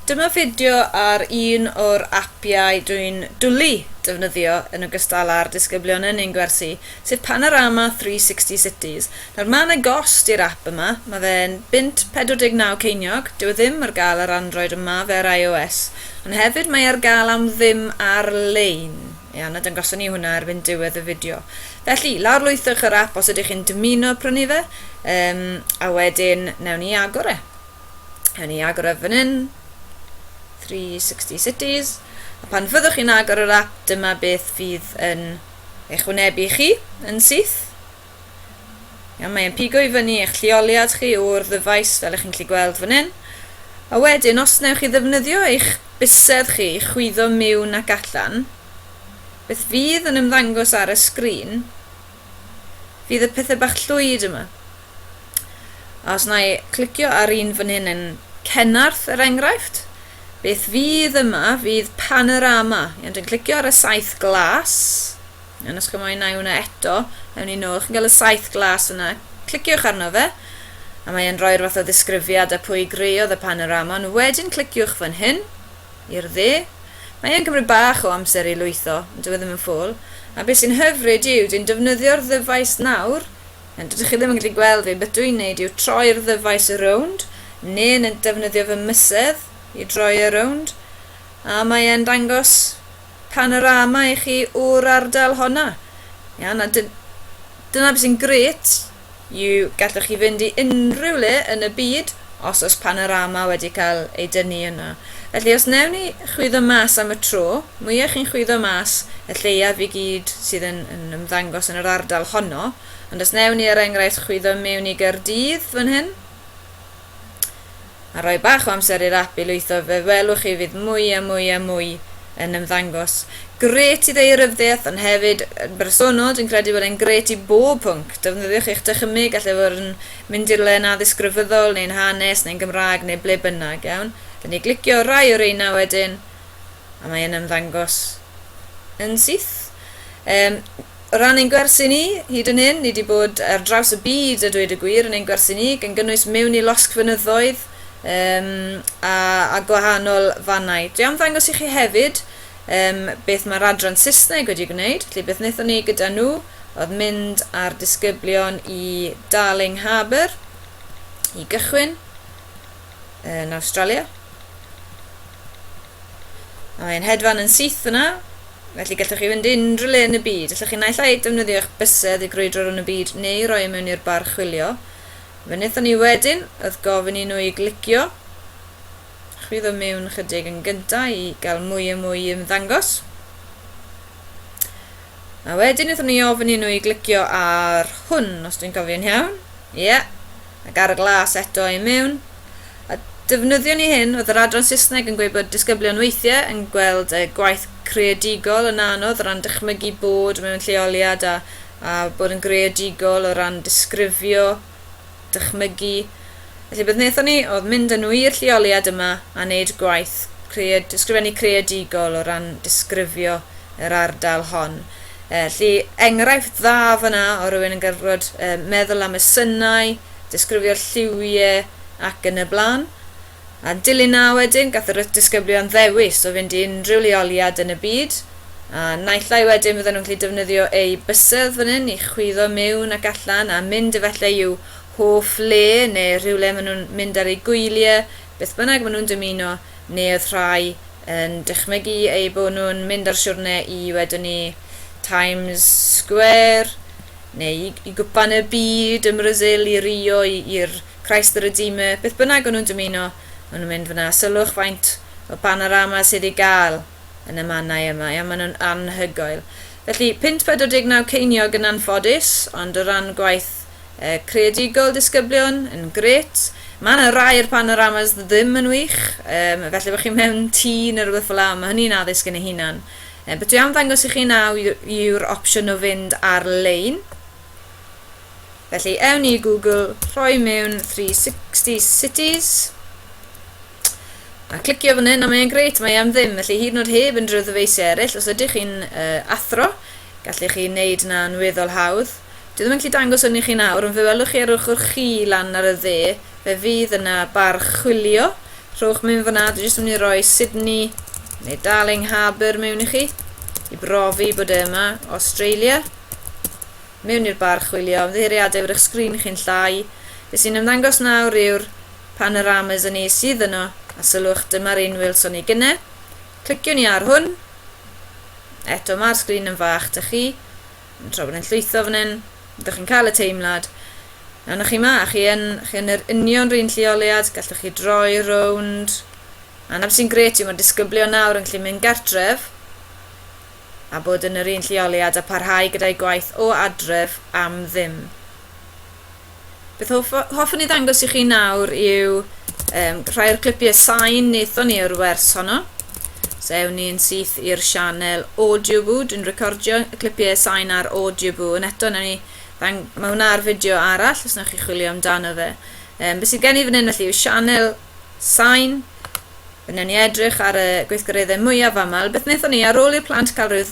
Dyma fideo ar un o'r apiau dwi'n dwli defnyddio yn ogystal â'r disgyblion yn ein gwersi, sef Panorama 360 Cities. Nawr, mae yna gost i'r ap yma, mae fe'n bunt 49 ceiniog, dyw e ddim ar gael ar Android ond mae fe ar iOS, ond hefyd mae e ar gael am ddim ar-lein. Ia, na dangoson ni hwnna erbyn diwedd y fideo. Felly, lawrlwythwch yr app os ydych chi'n dymuno prynu fe, um, a wedyn newn ni agor e. Newn ni agor e fan hyn, 360 Cities, a pan fyddwch chi'n agor yr app, dyma beth fydd yn eich wynebu chi yn syth. Iawn, mae'n pigo i fyny eich lleoliad chi o'r ddyfais fel ych chi'n gallu gweld fan hyn. A wedyn, os wnewch chi ddefnyddio eich bysedd chi i chwyddo miwn ac allan, beth fydd yn ymddangos ar y sgrin fydd y pethau bach llwyd yma. A os na i clicio ar un fan hyn yn Cenarth er enghraifft, beth fydd yma fydd panorama. Iawn, dwi'n clicio ar y saith glas. Iawn, os chi'n moyn nai hwnna eto, ewn ni nôl. Chi'n cael y saith glas yna. Cliciwch arno fe, a mae e'n rhoi'r fath o ddisgrifiad a pwy greodd y panorama, ond wedyn cliciwch fan hyn, i'r dde. Mae e'n cymryd bach o amser i lwytho, ond dyw e ddim yn ffôl. A beth sy'n hyfryd yw, dwi'n defnyddio'r ddyfais nawr, a dydych chi ddim yn gallu gweld fi, beth dwi'n neud yw troi'r ddyfais rownd, neu'n defnyddio fy mysedd i droi e rownd, a mae e'n dangos Panorama i chi o'r ardal honna. Ia, na, dy- dyna beth sy'n grêt yw gallwch chi fynd i unrhyw le yn y byd os oes panorama wedi cael ei dynnu yno. Felly os newn ni chwyddo mas am y tro, mwya chi'n chwyddo mas y lleiaf i gyd sydd yn, yn ymddangos yn yr ardal honno, ond os newn ni er enghraifft chwyddo mewn i Gaerdydd fan hyn, a rhoi bach o amser i'r ap i lwytho fe welwch chi fydd mwy a mwy a mwy yn ymddangos. Grêt i ddaearyfddiaeth ond hefyd yn bersonol dwi'n credu bod e'n grêt i bob pwnc, defnyddiwch eich dychymyg gall e fod yn mynd i'r le yn addysg grefyddol neu'n hanes neu'n Gymraeg neu ble bynnag, iawn? Dyn ni glicio ar rai o reina wedyn a mae e'n ymddangos yn syth. Yym. O ran ein gwersi ni, hyd yn hyn, ni 'di bod ar draws y byd, a dweud y gwir, yn ein gwersi ni, gan gynnwys mewn i losgfynyddoedd um, a, a gwahanol fannau. Dwi am ddangos i chi hefyd um, beth mae'r adran Saesneg wedi gwneud, felly beth wnaethon ni gyda nhw oedd mynd â'r disgyblion i Darling Harbour i gychwyn yn Awstralia. Mae e'n hedfan yn syth yna, felly gallwch chi fynd unrhyw le yn y byd. Allwch chi naill ai defnyddio eich bysedd i grwydro rhwng y byd neu roi e mewn i'r bar chwilio. Fe wnaethon ni wedyn oedd gofyn i nhw i glicio chwyddo mewn chydig yn gyntaf i gael mwy a mwy i ymddangos. A wedyn wnaethon ni ofyn i nhw i glicio ar hwn, os dwi'n cofio'n iawn. Ie. Yeah. Ac ar y glas eto i mewn. A defnyddio ni hyn, oedd yr adran Saesneg yn gweud bod disgyblion weithiau yn gweld y gwaith creadigol yn anodd o ran dychmygu bod mewn lleoliad a, a bod yn greadigol o ran disgrifio dychmygu. Felly beth wnaethon ni oedd mynd â nhw i'r lleoliad yma a wneud gwaith cread, ysgrifennu creadigol o ran disgrifio yr ardal hon. E, felly enghraifft dda fyna o rywun yn gorfod e, meddwl am y synau, disgrifio'r lliwiau ac yn y blaen. A dilyn 'na wedyn, gath yr disgyblion ddewis o fynd i unrhyw leoliad yn y byd, a naill ai wedyn fydden nhw'n gallu defnyddio eu bysedd fan hyn i chwyddo miwn ac allan a mynd efallai i'w hoff le neu rhywle maen nhw'n mynd ar eu gwyliau, beth bynnag maen nhw'n dymuno, neu oedd rhai yn dychmygu eu bod nhw'n mynd ar siwrne i, wedwn ni, Times Square. neu i, i gwpan y byd ym Mrasil, i Rio, i, i'r Christ the Redeemer, beth bynnag o'n nhw'n dymuno, o'n nhw'n mynd fyna. Sylwch faint o panorama sydd i gael yn y mannau yma, ia, maen nhw'n anhygoel. Felly, 549 ceiniog yn anffodus, ond o ran gwaith uh, creadigol disgyblion, yn gret. Mae yna rai o'r panoramas ddim yn wych, um, felly bod chi mewn tî neu rhywbeth fel la, mae hynny'n addysg yn ei hunan. Yy, be dwi am ddangos i chi naw yw'r opsiwn o fynd ar-lein. Felly, ewn i Google, rhoi mewn 360 Cities, a clicio fan hyn, a mae'n greit, mae am ddim, felly hyd yn oed heb unrhyw ddyfeisiau eraill, os ydych chi'n uh, athro, gallu chi wneud na'n weddol hawdd. Dwi ddim yn gallu dangos hwn i chi nawr, ond fe welwch chi ar ochr chi lan ar y dde, fe fydd yna bar chwilio. Rhowch mewn fanna, dwi jyst yn mynd i roi Sydney neu Darling Harbour mewn i chi, i brofi bod e yma, Australia. Mewn i'r bar chwilio, ymddiheuriadau bod eich sgrin chi'n llai. Be sy'n ymddangos nawr yw'r panoramas yn ei sydd yno, a sylwch dyma'r un welson ni gynne. Cliciwn ni ar hwn. Eto mae'r sgrin yn fach, da chi. tra bod e'n llwytho fan hyn, ydych chi'n cael y teimlad, a na chi ma, chi yn, chi yn yr union rhywun lleoliad, gallwch chi droi rownd, a na sy'n gret yw mae disgyblu o nawr yn gallu mynd gartref, a bod yn yr un lleoliad a parhau gyda'i gwaith o adref am ddim. Beth hoff, hoffwn i ddangos i chi nawr yw um, rhai o'r clipiau sain wnaethon ni o'r wers honno. So ewn ni'n syth i'r sianel Audioboo, dwi'n recordio y clipiau sain ar Audioboo, yn eto newn ni, ddang, mae hwnna ar fideo arall os wnewch chi chwilio amdano fe. Um, beth sydd gen i fan hyn felly yw sianel sain, fe newn ni edrych ar y gweithgareddau mwyaf aml. Beth wnaethon ni ar ôl i'r plant cael rhyw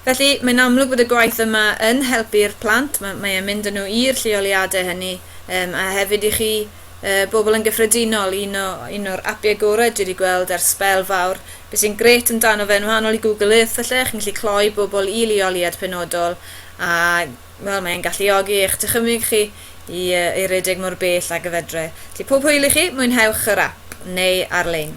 Felly, mae'n amlwg bod y gwaith yma yn helpu'r plant, mae, mae e'n mynd â nhw i'r lleoliadau hynny, um, a hefyd i chi uh, bobl yn gyffredinol, un o un o'r apiau gorau dwi wedi gweld ar sbel fawr. Be sy'n gret amdano fe, yn wahanol i Google Earth felly, chi'n gallu cloi bobl i leoliad penodol, a wel, mae'n galluogi eich dychymyg chi i, uh, i redeg mor bell ag y fedre. Felly pob hwyl i chi, mwynhewch yr ap, neu ar-lein.